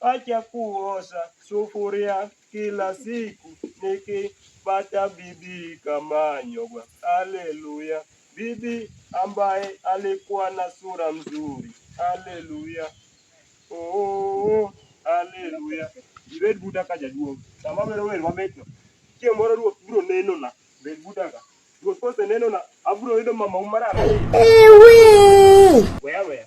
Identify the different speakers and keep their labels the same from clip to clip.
Speaker 1: Acha kuosha sufuria kila siku nikipata bibi kama Nyogwa. Haleluya! Bibi ambaye alikuwa na sura mzuri. Haleluya! Oh, haleluya! Ibed buda ka jaduong' sama wero wer mamitno, chieng' moro Ruoth biro nenona. Bed buda ka Ruoth kosenenona, abiro yudo mamau mararieya weya weya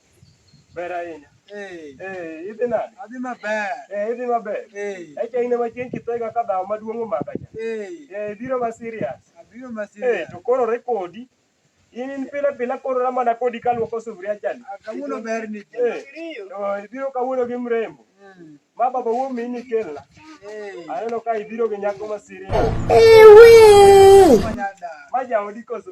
Speaker 1: Ber ahinya. Eh. Eh, idhi nade? Adhi maber.
Speaker 2: Eh, idhi maber.
Speaker 1: Eh. Echa in ema chieng' kithega ka dhawo maduong' omaka cha. Eh. Eh, biro ma serious. Abiro ma serious. Eh,
Speaker 2: to koro rekodi.
Speaker 1: In in pile pile koro na mana kodi kaluoko sufuria chani. Ah, kawuono ber ni.
Speaker 2: Eh. To ibiro
Speaker 1: kawuono gi mrembo. Mm. Ma baba wuo mi ni kelna. Eh. Aneno ka ibiro gi nyako ma serious. Eh, we. Ma jaodi koso.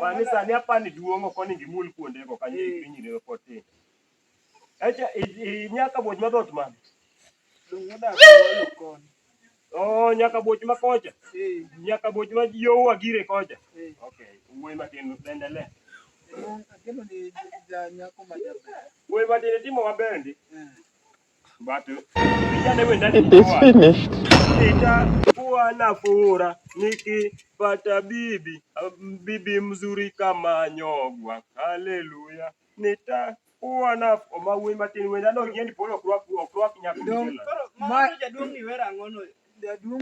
Speaker 1: Pani sani apani duong' ok onego imul kuonde go kanyo eh. piny ne pod tin. Echa nyaka boj madhot man. Oh, nyaka boj ma kocha. Eh. Nyaka boj ma yo wagire kocha. Eh. Okay, wuoi matin endelea.
Speaker 2: Wuoi matin timo
Speaker 1: maber ndi. It
Speaker 3: is finished. Nitakuwa
Speaker 1: na fura nikipata bibi bibi mzuri kama Nyogwa. Haleluya. Nita kuwa na oma wuoyi matin wenda no ng'endi polo ok rwak ok rwak nyaka dong ma jaduong'
Speaker 2: ni wera ang'o no jaduong'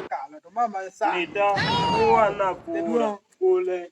Speaker 2: kala to mama sa nita kuwa na
Speaker 1: kula kule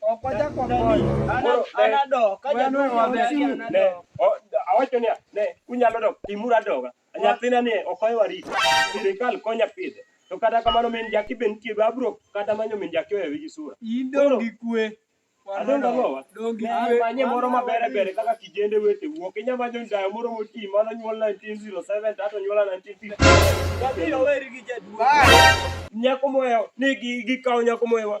Speaker 2: Ok wachak wagoyo. Anadok. Ka jadwong' maber, anadok.
Speaker 1: Awacho niya, ne, unyalo dok, timuru adoga. Nyathina ni ok ohew arita. Sirikal konya pidhe. To kata kamano min jaki be nitie, be abiro kata manyo min jaki ohewe gi sura. In dong' gi kwe.
Speaker 2: Adong' ang'owa.
Speaker 1: Dong' gi Ne kwe. amanye
Speaker 2: moro maber
Speaker 1: ber kaka kijende wete wuok. Inya manyo ndayo moro moti mano nyuol 1907 to ato nyuola 1950. Abiro weri gi jaduong'. Nyako mohewo ni gi- gikawo nyako mohewa.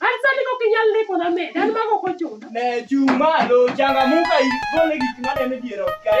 Speaker 4: Asani kok inyal ndiko na me, dan mago ok ochuno.
Speaker 1: Ne chung' malo, changamuka igole gik
Speaker 4: maneno
Speaker 1: dier ot
Speaker 4: kae.